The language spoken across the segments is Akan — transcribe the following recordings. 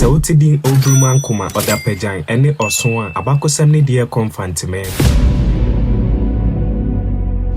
Sɛ wote din Oburumankoma, Ɔdapagyan, ne Ɔsõ a, abakɔsɛm no de yɛ kɔ Mfanteman.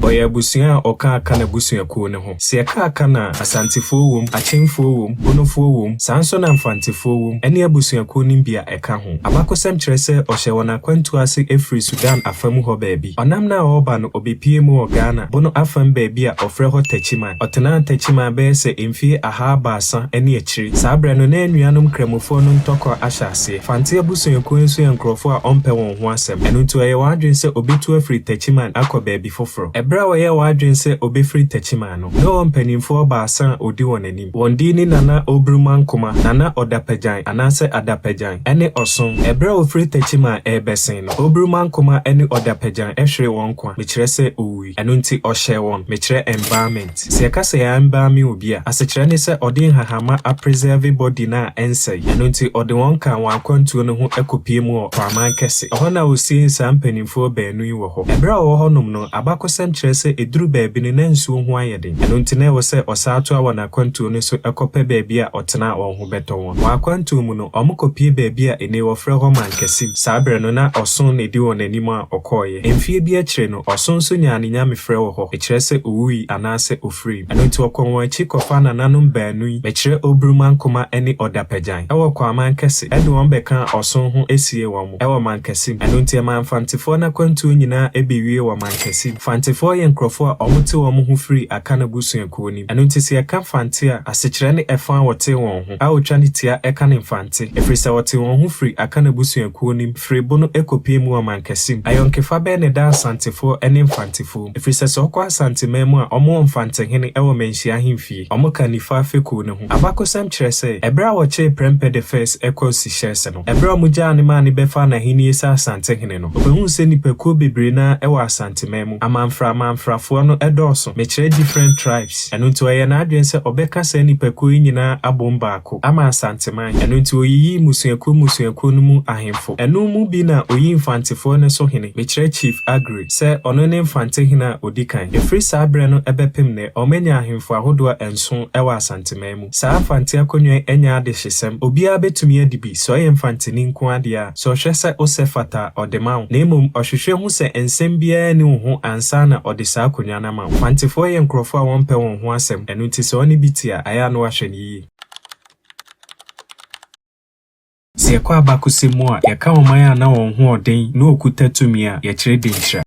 Ɔyɛ abusua a ɔka aka n'abusuakuo no ho. Sɛ yɛka Akan a, Asantefoɔ wom, Akyemfoɔ wom, Bonofoɔ wom, saa nso na Mfantefoɔ wom, ɛne abusuakuo no bi a ɛka ho. Abakɔsɛm kyerɛ sɛ ɔhyɛɛ wɔn akwantuo ase firi Sudan afa mu hɔ baabi. Ɔnam no a ɔreba no, ɔbɛpuee mu wɔ Ghana, Bono afam baabi a wɔfrɛ hɔ Techiman. Ɔtenaa Techiman bɛyɛ sɛ mfeɛ ahaa baasa ne akyire. Saa berɛ no, na anuanom Nkramofoɔ no ntɔkwa ahyɛ aseɛ. Fante abusuakuo nso yɛ nkurɔfoɔ a wɔmpɛ wɔn ho asɛm, ɛno nti ɔyɛɛ wɔn adwene sɛ ɔbɛtu afiri Techiman akɔ baabi foforo. Bere a ɔyɛɛ w'adwene sɛ obefiri Techiman no, na ɔwɔ mpanimfoɔ baasa a odi wɔn anim. Wɔn din ne Nana Obrumah-Nkomah, Nana Odapagyan, anaasɛ Adapagyan, ne Ɔsom. Bere a wɔfiri Techiman rebɛsen no, Obrumah-Nkomah ne Odapagyan hweree wɔn nkwa, mekyerɛ sɛ owui. Ɛno nti ɔhyɛɛ wɔn, mekyerɛ embalmment. Alex. Sɛ yɛka sɛ yɛ embalming obi a, asekyerɛ ne sɛ ɔde nhahamma a preserve body no a ɛnsɛe. Ɛno nti, ɔde wɔn kaa wɔn akwantuo no ho kɔpue mu wɔ Kwaman Kɛse. Ɛhɔ na ɔsiee saa mpanimfoɔ baanu yi wɔ hɔ. Ɛberɛ a ɔwɔ hɔnom no, abakɔsɛm kyerɛ sɛ ɛduru baabi no na nsuo ho ayɛ den. Ɛno nti na ɛwɔ sɛ ɔsan toa wɔn akwantuo no so kɔpɛ baabi a ɔtena a wɔn ho bɛtɔ wɔn. Wɔn akwantuo mu no, wɔkɔpue baabi a nnei wɔfrɛ hɔ Mankasim. Saa berɛ no, na ɔsõ na ɛdi wɔn anim a ɔkɔeɛ. Mfeɛ bi akyire no, Ɔsõ nso nyaa ne nyamefrɛ wɔ hɔ, ɛkyerɛ sɛ owui anaasɛ ofirim. Ɛno nti ɔkɔ wɔn akyi kɔfaa nananom baanu yi, ɛkyerɛ Oburumankoma ne Odapagyan, wɔ Kwaman Kɛse, ɛde wɔn bɛkaa ɔsõ ho siee wɔn mo wɔ Mankɛse mu. Ɛno nti ɛmaa Mfantefoɔ no akwantuo nyinaa bewie wɔ Mankɛse mu. Fantefoɔ yɛ nkurɔfoɔ a wɔte wɔn ho firi Akan abusuakuo no mu. Ɛno nti sɛ yɛka Fante a, asekyerɛ ne ɛfã a wɔtee wɔn ho. a otwa ne tia ka ne mfante, ɛfiri sɛ ɔtee wɔn ho firii Akan abusuakuo no mu, firii bo no kɔpuee mu wɔ ɔmankɛse mu. Ayɔnkefa bɛn na ɛda Asantefoɔ ne mfantefoɔ mu? Ɛfiri sɛ sɛ ɔkɔ Asanteman mu a, wɔwɔ mfantehene wɔ manhyia ahemfie. Wɔka Nifa fekuo no ho. Abakɔsɛm kyerɛ sɛ, ɛberɛ a wɔkyeree Prempeh the First kɔɔ Seychelles no, ɛberɛ a wɔgyaa no maa no bɛfaa n'ahennie sɛ Asantehene no, ɔbɛhuu sɛ nnipakuo bebree no ara wɔ Asanteman mu. Amamfraamanfrafoɔ no dɔɔso, mekyerɛ different tribes, ɛno nti ɔyɛɛ n'adwene sɛ ɔbɛka saa nnipakuo yi nyinaa abom baako ama Asanteman, ɛno nti ɔyiyii mmusuakuo mmusuakuo no mu ahemfo. Ɛno mu bi na ɔyii Mfantefoɔ no so hene, mekyerɛ Chief Aggrey, sɛ ɔno ne Mfante hene a ɔdi kan. Ɛfiri saa berɛ no bɛpem nnɛ, wɔanya ahemfo ahodoɔ nson wɔ Asanteman mu. Saa Mfante akonnwa yi nyɛ adehyesɛm. Obiara betumi adi bi, sɛ ɔyɛ Mfanteni nko ara deɛ a, sɛ ɔhwɛ sɛ wo sɛ fata a, ɔde ma wo. Na mmom, ɔhwehwɛ hu sɛ nsɛm biara nni wo ho ansa na ɔde saa akonnwa no ama wo. Mfantefoɔ yɛ nkurɔfoɔ a wɔmpɛ wɔn ho asɛm, ɛno nti sɛ ɔne bi te a, ayɛ a na wahwɛ no yiye. Sɛ yɛkɔ abakɔsɛm mu a, yɛka ɔman a na wɔn ho ɔden na wɔkuta tumi a, yɛkyerɛ Denkyira.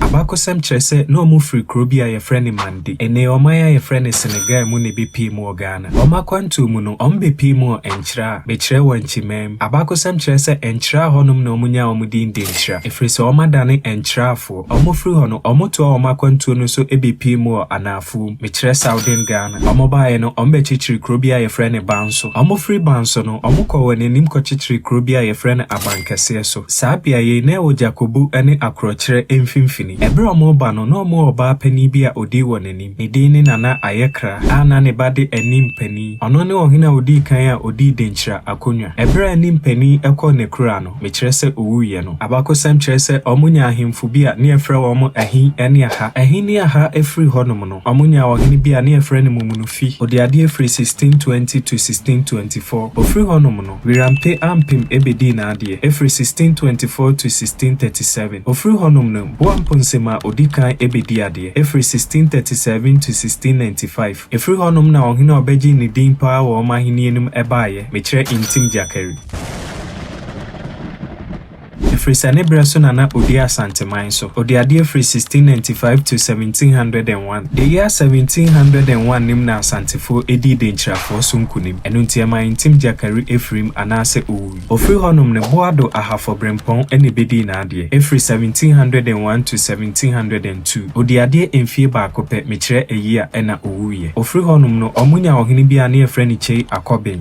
Abakɔsɛm kyerɛ sɛ na wɔfiri kuro bi a yɛfrɛ no Mande, ennee ɔman a yɛfrɛ no Senegal mu na ɛbɛpue mu wɔ Ghana. Wɔn akwantuo mu no, wɔbɛpue mu wɔ Nkyira a mekyerɛɛ wɔ Nkyemam mu. Abakɔsɛm kyerɛ sɛ Nkyira hɔnom na wɔnyaa wɔn din Denkyira, ɛfiri sɛ wɔadane Nkyirafoɔ. Bere a wɔfiri hɔ no, wɔtoaa wɔn akwantuo no so bɛpii mu wɔ anaafoɔ, mekyerɛ Southern Ghana. Wɔbaeɛ no, wɔbɛkyekyeree kuro bi a wɔfrɛ no Banso. Wɔfirii Banso no, wɔkɔɔ wɔn anim kɔkyekyeree kuro bi a wɔfrɛ no Abankɛseɛ so. Saa beaeɛ yi, na ɛwɔ Djakobu ne Akorɔkyerɛ mfimfini. Bere a wɔreba no, na wɔwɔ ɔbaa panin bi a ɔdi wɔn anim. Ne din ne Nana Ayekra, a na ne ba de anim panin. Ɔno ne ɔhene a ɔdii kan a ɔdii Denkyira akonnwa. Bere a anim panin kɔɔ n'akuraa no, mekyerɛ sɛ owuiɛ no, abakɔsɛm kyerɛ sɛ wɔnyaa ahemfo bi a na yɛfrɛ wɔn Ahi ne Aha. Ahi ne Aha firi hɔnom no, wɔnyaa ɔhene bi a na yɛfrɛ no Mumunufi, ɔdii adeɛ firi 1620 to 1624. Ɔfiri hɔnom no, Wirampe Ampem bɛdii n'adeɛ, firi 1624 to 1637. Ɔfiri hɔnom no, Boa Mponsem a ɔdi kan bɛdii adeɛ, firi 1637 to 1695. Ɛfiri hɔnom na ɔhene a ɔbɛgyee ne din pa ara wɔ wɔn ahennie no mu baeɛ, mekyerɛ Ntim Gyakari. Ɛfiri sɛ ne berɛ so na na ɔdi Asanteman so. Ɔdi adeɛ firi 1695 to 1701. The year 1701 nim na Asantefoɔ dii Denkyirafoɔ so nkunim. Ɛno nti ɛma Ntim Gyakari firim anaasɛ ɔwui. Ɔfiri hɔnom no, Boado Ahafo Brempɔn na ɛbɛdii n'adeɛ. Ɛfiri 1701 to 1702. Ɔdi adeɛ mfie baako pɛ, mekyerɛ ayi a, ɛna ɔwuiɛ. Ɔfiri hɔnom no, wɔnnya ɔhene bi a ne yɛfrɛ no Kyei Akɔben.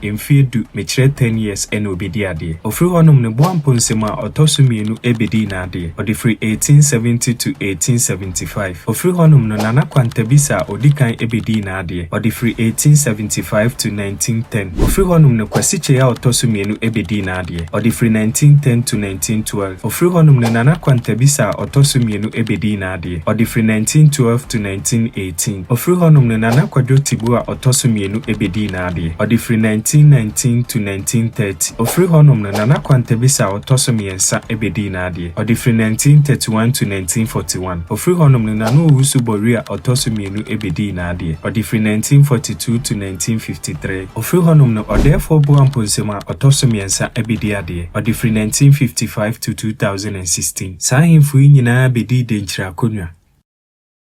mfeɛ du mekyerɛ ten years na ɔbɛdi adeɛ. Ɔfiri hɔnom no Boampɔ nsam a ɔtɔ so mmienu bɛdii n'adeɛ. Ɔde firi eighteen seventy to eighteen seventy five. Ɔfiri hɔnom no Nana Kwanta Bisa a ɔdi kan bɛdii n'adeɛ. Ɔde firi eighteen seventy five to nineteen ten. Ɔfiri hɔnom no Kwasi Kyei a ɔtɔ so mmienu bɛdii n'adeɛ. Ɔde firi nineteen ten to nineteen twelve. Ɔfiri hɔnom no Nana Kwanta Bisa a ɔtɔ so mmienu bɛdii n'adeɛ. Adeɛ. Ɔde firi 1912 to 1918. Ɔfiri hɔnom no, Nana Kwadwo Tibu a ɔtɔ so mmienu bɛdii n'adeɛ. Ɔde firi 1919 to 1930. Ɔfiri hɔnom no, Nana Kwanta Bisa a ɔtɔ so mmiɛnsa bɛdii n'adeɛ. Ɔde firi 1931 to 1941. Ɔfiri hɔnom no, Nana Owusu Bawurie a ɔtɔ so mmienu bɛdii n'adeɛ. Ɔde firi 1942 to 1953. Ɔfiri hɔnom no, Ɔdɛɛfoɔ Boa Mponsamu a ɔtɔ so mmiɛnsa bɛdi adeɛ. Ɔde firi 1955 to 2016. Saa ahemfo yi nyinaa bedii denkyiri akonnwa.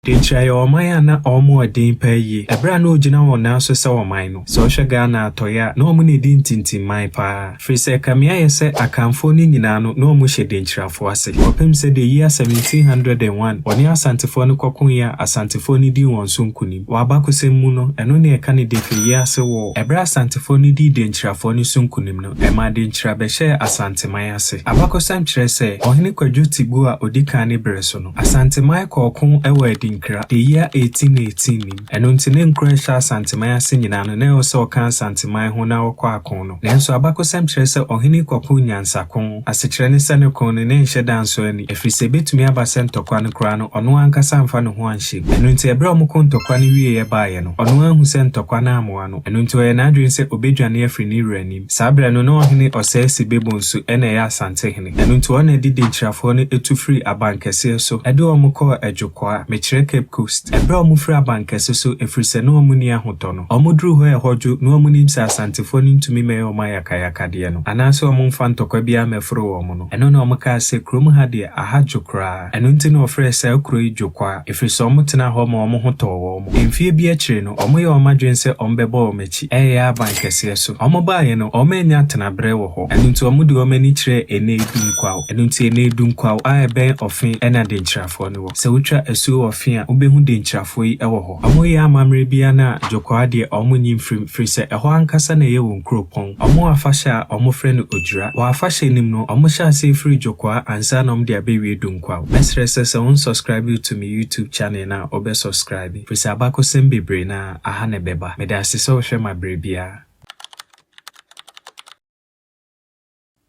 Denkyiri ayɛ ɔman a na wɔn wɔ den paa yie. Ɛberɛ a na ɔgyina wɔn nan so sɛ ɔman no, sɛ wohwɛ Ghana atɔeɛ a, na wɔn na ɛdi ntintimman paa. Firi sɛ ɛkame ayɛ sɛ Akanfoɔ no nyinaa no, na wɔhyɛ denkyirafoɔ ase. Kɔpem sɛ the year 1701, wɔne Asantefoɔ no kɔkoeɛ a Asantefoɔ no dii wɔn so nkonim. Wɔ abakɔsɛm mu no, ɛno na yɛka no Defe Yease War. Ɛberɛ a Asantefoɔ no dii denkyirafoɔ no so nkonim no, Ɛma adenkyira bɛhyɛɛ Asanteman ase. Abakɔsɛm kyerɛ sɛ Ɔhene Kwadwo Tibuo a ɔdi kan ne berɛ so no, Asanteman kɔɔ ko wɔ Adinkra, the year 1818 nim. Ɛno nti ne nkuro a ɛhyɛ Asanteman ase nyinaa no, na ɛwɔ sɛ wɔka Asanteman ho na wɔkɔ ako no. Nanso abakɔsɛm kyerɛ sɛ ɔhene yi kɔkoo nyansako. Asekyerɛ ne sɛ ne ko no, na ɛnhyɛ da nsɔ ani, ɛfiri sɛ ɛbɛtumi aba sɛ ntɔkwa no koraa no, ɔno ankasa amfa ne ho anhyɛ mu. Ɛno nti ɛberɛ a wɔko ntɔkwa no wieeɛ baeɛ no, ɔno ara ahu sɛ ntɔkwa no ammoa no. Ɛno nti ɔyɛɛ n'adwene sɛ obedwane afiri ne wura anim. Saa berɛ no, na ɔhene Ɔsɛe Sebebon so na ɛyɛ Asante hene. Ɛno nti ɔna de Denkyirafoɔ no tu firii abankɛseɛ so de wɔn kɔɔ Adwokwaa, mekyerɛ Cape Coast. Ɛberɛ a wɔfiri abankɛse so, ɛfiri sɛ na wɔn nni ahotɔ no, wɔduruu hɔ a ɛhɔ dwo, na wɔn nim sɛ Asantefoɔ no ntumi mmɛyɛ wɔn ayakayakadeɛ no, anaase wɔn mfa ntɔkwa biara mmɛforo wɔn no, ɛno na wɔkaa sɛ, Kurom ha deɛ, aha dwo koraa. Ɛno nti na wɔfrɛɛ saa kuro yi Dwokwaa, ɛfiri sɛ wɔtenaa hɔ ma wɔn ho tɔɔ wɔn. Mfeɛ bi akyire no, wɔyɛɛ wɔn adwene sɛ wɔbɛbɔ wɔn akyi reyɛ aba nkɛseɛ so. Wɔbaeɛ no, wɔannya atenaberɛ wɔ hɔ, ɛno nti wɔde wɔn ani kyerɛɛ Enei Dunkwaw. Ɛno nti Enei Dunkwaw a ɛbɛn Ɔfe na Denkyirafoɔ no wɔ. Sɛ wotwa asuo wɔ Ɔfe a, wobɛhu Denkyirafoɔ yi wɔ hɔ. Ɔmo yɛ amammerɛ bi a na Dwokwaa deɛ ɔmo nyi mfirim firi sɛ ɛhɔ ankasa na ɛyɛ wɔn kuropɔn. Ɔmo afahyɛ a ɔmo frɛ no Odwira. Wɔ afahyɛ nim no ɔmo hyɛ aseɛ firi Dwokwaa ansa na ɔmo de abɛwie Dunkwaw. Mɛsrɛ sɛ sɛ won subscribe to me YouTube channel no a wobɛ subscribe firi sɛ abakɔsɛm bebree no ara aha na ɛbɛba. Medase sɛ wohwɛ ma berɛ biara.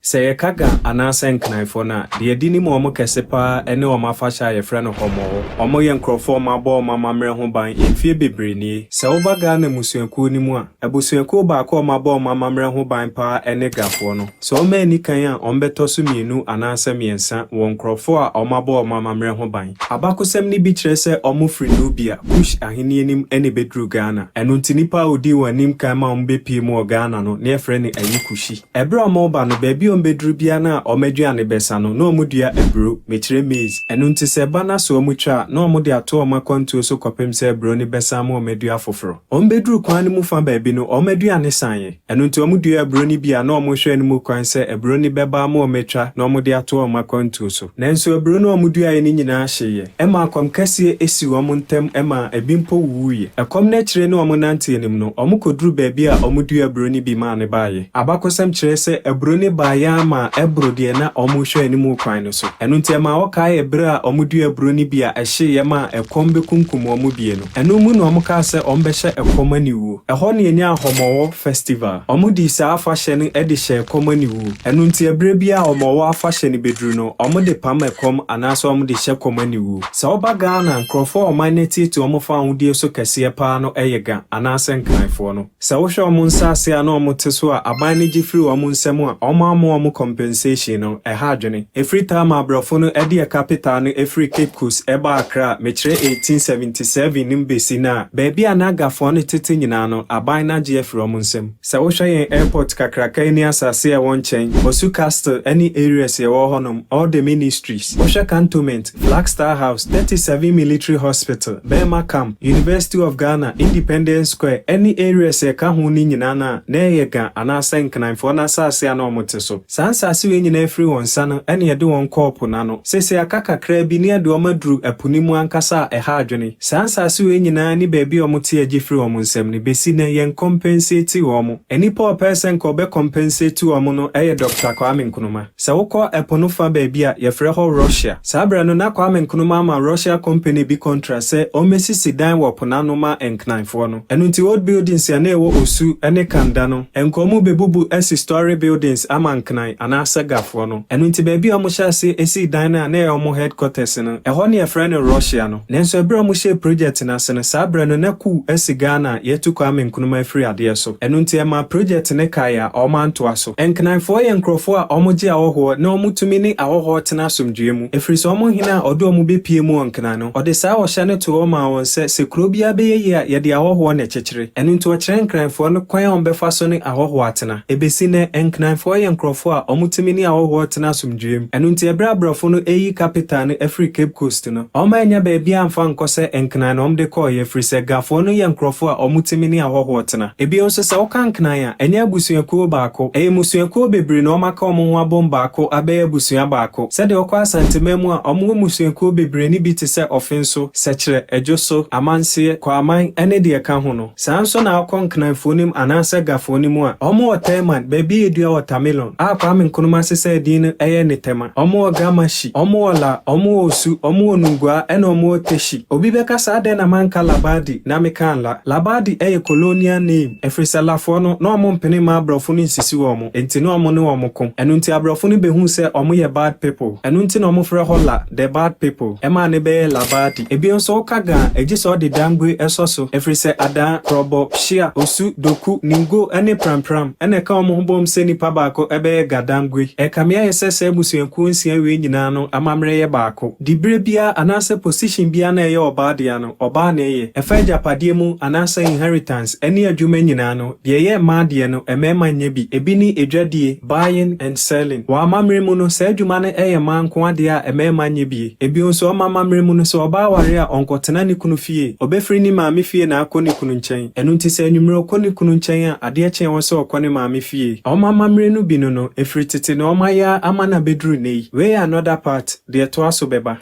Sɛ yɛka Ga anaasɛ Nknanfoɔ no a, deɛ yɛde nim wɔn kɛse pa ara ne wɔn afahyɛ a yɛfrɛ no Homɔho. Wɔyɛ nkorɔfoɔ a wɔabɔ wɔn amammerɛ ho ban mfeɛ bebree nie. Sɛ woba Ghana mmusuakuo no mu a, abusuakuo baako a wɔabɔ wɔn amammerɛ ho ban pa ara ne Gafoɔ no. Sɛ wɔanni kan a, wɔbɛtɔ so mmienu anaasɛ mmiɛnsa wɔ nkorɔfoɔ a wɔabɔ wɔn amammerɛ ho ban. Abakosɛm no bi kyerɛ sɛ wɔfiri Nubia, Kush ahennie anim na ɛbɛduruu Ghana. Ɛno nti nipa a ɔdii wɔn anim kan ma wɔbɛpuee mu wɔ Ghana no, na yɛfrɛ no Ayikushi. Bere a wɔreba no, baabi a wɔbeduru biara na wɔn aduane bɛsa no, na wɔdua aburow, mekyerɛ maize. Ɛno nti sɛ ɛba na sɛ wɔtwa a, na wɔde ato wɔn akwantuo so kɔpem sɛ aburow no bɛsan ama wɔadu afoforo. Wɔbeduruu kwan no mu fã baabi no, wɔn aduane saeɛ. Ɛno nti wɔduaa aburow no bi a na wɔhwɛ anim kwan sɛ aburow no bɛba ama wɔatwa na wɔde ato wɔn akwantuo so. Nanso aburo no a wɔduaeɛ no nyinaa hyeeɛ. Ɛmaa ɛkɔm kɛseɛ sii wɔn ntam maa ebi mpo wuwuiɛ. Ɛkɔm no akyire no wɔnante anim no, wɔkɔduruu baabi a wɔduaa aburo no bi maa no baeɛ. Abakɔsɛm kyerɛ sɛ aburo no baeɛ ara maa ɛboro deɛ na wɔrehwɛ anim kwan no so. Ɛno nti ɛmaa wɔkaee ɛberɛ a wɔduaa aburo no bi a ɛhyeeɛ maa ɛkɔm bɛkunkum wɔn mmienu. Ɛno mu na wɔkaa sɛ wɔbɛhyɛ ɛkɔm aniwuo. Ɛhɔ na yɛnyaa Ahɔmɔwɔ Festival. Wɔdii saa afahyɛ no de hyɛɛ ɛkɔm aniwuo. Ɛno nti ɛberɛ biara a Ahɔmɔwɔ afahyɛ no bɛduru no, wɔde pam ɛkɔm anaasɛ wɔde hyɛ kɔm aniwuo. Sɛ woba Ghana a, nkorɔfoɔ a ɔman no atietie wɔn fa awodeɛ so kɛseɛ pa ara no yɛ Ga anaasɛ Nkranfoɔ no. Sɛ wohwɛ wɔn nsaase a na wɔn te so a aban no gye firi wɔn nsam a, wɔn amma wɔn compensation no, ɛha adwene. Ɛfiri taa maa brɔfo no ɛde ɛka petaa no ɛfiri Cape Coast ɛbaa Accra, mekyerɛ 1877 no mu bɛsi nnɛ a, baabi a na Gafoɔ no tete nyinaa no, aban no agye afiri wɔn nsam. Sɛ wohwɛ yɛn airport kakraka yi ne asaase a ɛwɔ nkyɛn, Osu Castle ɛne areas a ɛwɔ hɔnom, all the ministries, wohwɛ cantonment, Black Star House, Thirty Seven Military Hospital, Bɛɛma Camp, University of Ghana, Independence Square, ɛne areas a ɛka ho no nyinaa no a na ɛyɛ Ga anaasɛ Nkananfoɔ no asase a na wɔte so. Saa nsase wei nyinaa firi wɔn nsa no ɛna yɛde wɔn kɔɔ po no ano. Seesei aka kakraa bi na yɛde wɔn aduru ɛpo no mu ankasa a ɛha adwene. Saa nsase wei nyinaa ne baabi a wɔte agye firi wɔn nsam no bɛsi nnɛ yɛn compensate wɔn. Nnipa a ɔpɛɛ sɛ nka ɔbɛ compensate wɔn no ɛyɛ Doctor Kwame Nkrumah. Sɛ wokɔ ɛpo no fa baabi a, yɛfrɛ hɔ Russia. Saa berɛ no, na Kwame Nkrumah ama Russia company bi kɔntra sɛ ɔmmɛsisi dan wɔ po no ano ma Nknanfoɔ no. Ɛno nti, old buildings a na ɛwɔ Osu ne Kanda no, nkɔɔ mu bɛbubu asi story buildings ama Nknan anaa Sagafoɔ no. Ɛno nti, baabi a wɔhyɛɛ aseɛ sii dan no a na ɛyɛ wɔn headquarters no, ɛhɔ na yɛfrɛ no Russia no. Nanso ɛberɛ a wɔhyɛɛ project no ase no, saa berɛ no, na coup asi Ghana a yɛatu Kwame Nkrumah afiri adeɛ so. Ɛno nti, ɛmaa project no kaeɛ a wɔantoa so. Nkenaefoɔ yɛ nkurɔfoɔ a wɔgye ahɔhoɔ na wɔtumi ne ahɔhoɔ tena asomdwoeɛ mu, ɛfiri sɛ wɔn hene a ɔde wɔn bɛpue mu wɔ nkena no, ɔde saa ɔhyɛ no too hɔ maa wɔn sɛ, sɛ kuro biara bɛyɛ yie a, yɛde ahɔhoɔ na ɛkyekyere. Ɛno nti ɔkyerɛɛ nkenaefoɔ no kwan a wɔbɛfa so ne ahɔhoɔ atena. Ɛbɛsi nnɛ, nkenaefoɔ yɛ nkurɔfoɔ a wɔtumi ne ahɔhoɔ tena asomdwoeɛ mu. Ɛno nti ɛberɛ a aborɔfo no reyi capital no afiri Cape Coast, no. Wɔn annya baabi amfa ankɔ sɛ Nkran na wɔde kɔeɛ, ɛfiri sɛ Gafoɔ no yɛ nkurɔfoɔ a wɔtumi ne ahɔhoɔ tena. Bio nso, sɛ woka Nkran a, ɛnyɛ abusuakuo baako. Ɛyɛ mmusuakuo bebree na wɔaka wɔn ho abom baako abɛyɛ abusua baako. Sɛdeɛ wokɔ Asanteman mu a, wɔwɔ mmusuakuo bebree ne bi te sɛ Ɔfenso, Sɛkyerɛ, Adwoso, Amanseɛ, Kwaman, ne deɛ ɛka ho no. Saa nso na akɔ Nkranfoɔ no mu anaasɛ Gafoɔ no mu a, wɔn wɔ Tɛɛman, baabi a edua wɔ Tamilon, a Kwame Nkrumah sesaa din no yɛ Netɛma, wɔn wɔ Gamashi, wɔn wɔ La, wɔn wɔ Osu, wɔn wɔ Nungua ɛna wɔn wɔ Teshie. Obi bɛka sɛ adɛn na manka Labadi na mekaa La. Labadi yɛ colonial name, ɛfiri sɛ Lafoɔ no, na wɔn mpene mmaa aborɔfo no nsisi wɔn. Nti ne ɔmo ne wɔn ko. Ɛno nti abrɔfo no behuu sɛ ɔmo yɛ bad people. Ɛno nti na ɔmo frɛ hɔ la, the bad people, ɛmaa ne bɛyɛɛ labadi. Ebio nso woka ga a, egye sɛ ɔde dangue ɛsɔ so, efiri sɛ adaa, prɔbɔ, hyia, osu, doku, ningo ɛne prampram ɛna ɛka wɔn ho bom sɛ nipa baako ɛbɛyɛ ga dangue. Ɛkame ayɛ sɛ saa abusuakuo nsia wei nyinaa no amammerɛ yɛ baako. Diberɛ biara anaasɛ position biara na ɛyɛ ɔbaa dea no, ɔbaa na ɛyɛ. Ɛfa agyapadeɛ mu anaasɛ inheritance ɛne adwuma nyinaa no, Deɛ ɛyɛ mmaa deɛ no, mmarima nyɛ bi. Ebi ne adwadie, buying and selling. Wɔ amammerɛ mu no, saa adwuma no yɛ mmaa nko adeɛ a mmarima nyɛ bi. Ebio nso, wɔn amammerɛ mu no, sɛ ɔbaa ware a, ɔnkɔtena ne kunu fie. Ɔbɛfiri ne maame fie na akɔ ne kunu nkyɛn. Ɛno nti, sɛ anwummerɛ ɔkɔ ne kunu nkyɛn a, adeɛ kye wɔn sɛ ɔkɔ ne maame fie. Wɔn amammerɛ no bi no no, ɛfiri tete na wɔayɛ ara ama no abɛduru nnɛ yi. Wei yɛ another part, deɛ ɛtoa so bɛba.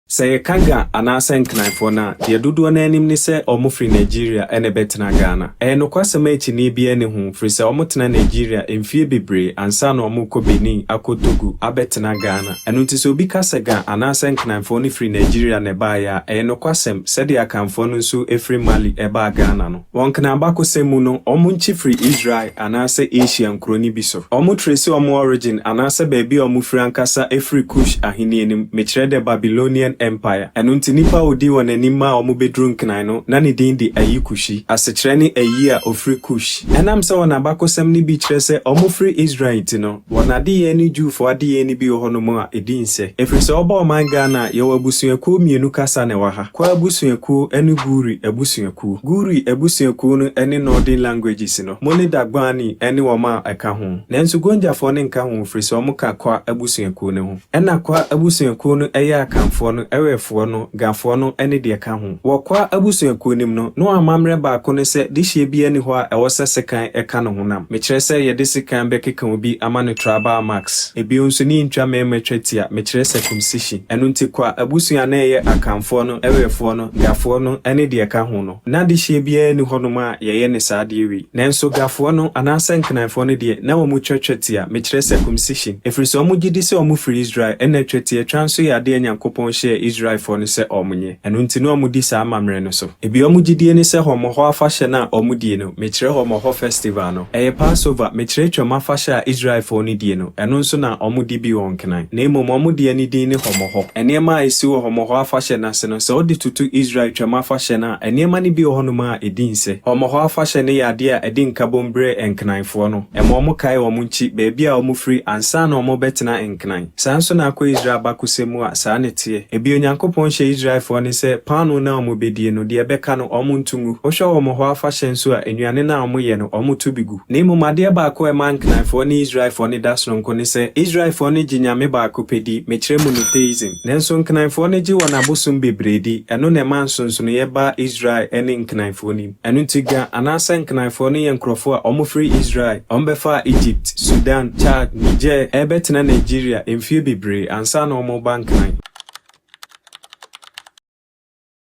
Sɛ yɛka Ga anaasɛ Nkranfoɔ no a, deɛ dodoɔ no ara nim ne sɛ wɔfiri Nigeria na ɛbɛtena Ghana. Ɛyɛ nokwasɛm a akyinnye biara nni ho, ɛfiri sɛ wɔtena Nigeria mfeɛ bebree ansa na wɔrekɔ Benin, akɔ Togo, abɛtena Ghana. Ɛno nti sɛ obi ka sɛ Ga anaasɛ Nkranfoɔ no firi Nigeria na ɛbaeɛ a, ɛyɛ nokwasɛm, sɛdeɛ Akanfoɔ no nso firi Mali baa Ghana no. Wɔ Nkran abakɔsɛm mu no, wɔn nkyi firi Israel anaasɛ Asia nkuro no bi so. Wɔn trace wɔn origin anaasɛ baabi a wɔn firi ankasa firi Kush ahennie no mu, mekyerɛ dɛ Babylonian Empire. Ɛno nti nipa a ɔdii wɔn anim maa wɔn bɛduru Nkran no, na ne din de Ayi Kushi. Asekyerɛ ne Ayi a ɔfiri Kush. Ɛnam sɛ wɔn abakɔsɛm no bi kyerɛ sɛ wɔfiri Israel nti no, Wɔn adeyɛ ne Jewfo adeyɛ no bi wɔ hɔnom a ɛdi nsɛ. Ɛfiri sɛ woba ɔman Ghana a, yɛwɔ abusuakuo mmienu kasa na ɛwɔ ha, Kwa abusuakuo ne Guri abusuakuo. Guri abusuakuo no ne Northern Languages no, mo ne Dagbani ne wɔn a ɛka ho. Nanso Gonjafoɔ no nka ho firi sɛ wɔka Kwa abusuakuo no ho. Ɛna Kwa abusuakuo no yɛ Akanfoɔ no, Ɛwɛfoɔ no, Gafoɔ no ne deɛ ɛka ho. Wɔ Kwa abusuakuo no mu no, no amammerɛ baako ne sɛ dehyeɛ biara nni hɔ a ɛwɔ sɛ sekan ka ne honam. Mekyerɛ sɛ yɛde sekan bɛkeka obi ama no tribal marks. Bio nso ne yɛntwa mmarima twatia, mekyerɛ circumcision. Ɛno nti Kwa abusua a na ɛyɛ Akanfoɔ no, Ɛwɛfoɔ no, Gafoɔ no ne deɛ ɛka ho no, N'adehyeɛ biara nni hɔnom a yɛyɛ no saa adeɛ wei. Nanso Gafoɔ no anaasɛ Nkenaefoɔ no deɛ, na wɔtwa twetia, mekyerɛ circumcision, ɛfiri sɛ wɔgye di sɛ wɔfiri Israel, ɛnna twatiatwa nso yɛ adeɛ a Nyankopɔn hyɛɛ Israelfoɔ no sɛ wɔnyɛ. Ɛno nti na wɔdi saa amammerɛ no so. Ebia wɔn gyidie ne sɛ Hɔmmɔhɔ Afahyɛ no a wɔdie no, Mekyerɛ hɔ Mɔhɔ Festival no. Ɛyɛ Passover, mekyerɛ Twam afahyɛ a Israelfoɔ no die no, ɛno nso na wɔdi bi wɔ Nkran. Na mmom wɔn deɛ no din ne Hɔ Mɔhɔ. Nneɛma a ɛsi wɔ Hɔ Mɔhɔ afahyɛ no ase no, sɛ wode toto Israel Twam afahyɛ no a, nneɛma no bi wɔ hɔnom a ɛdi nsɛ. Hɔ Mɔhɔ afahyɛ no yɛ adeɛ a ɛde nkabom berɛ Nkranfoɔ no. Ɛma wɔkae wɔn nkyi, baabi a wɔfiri, ansa na wɔrebɛtena Nkran. Saa nso na akɔ Israel abakɔsɛm mu a, saa na ɛteɛ. Ebia Onyankopɔn hyɛɛ Israelfoɔ no sɛ paanoo no a wɔbɛdie no, deɛ ɛbɛka no, wɔnto ngu. Wohwɛ wɔn hɔ afahyɛ nso a, nnuane no a wɔyɛ no, wɔto bi gu. Na mmom adeɛ baako a ɛma Nkaanfoɔ ne Israelfoɔ no da sononko ne sɛ, Israelfoɔ no gye Nyame baako pɛ di, mekyerɛ monotheism. Nanso Nkaanfoɔ no gye wɔn abosom bebree di. Ɛno na ɛma nsonsonoeɛ baa Israel ne Nkaanfoɔ no mu. Ɛno nti Ga anaasɛ Nkenaefoɔ no yɛ nkurɔfoɔ a wɔfiri Israel. Wɔbɛfaa Egypt, Sudan, Chad, Niger rebɛtena Nigeria mfeɛ bebree ansa na wɔreba Nkenae.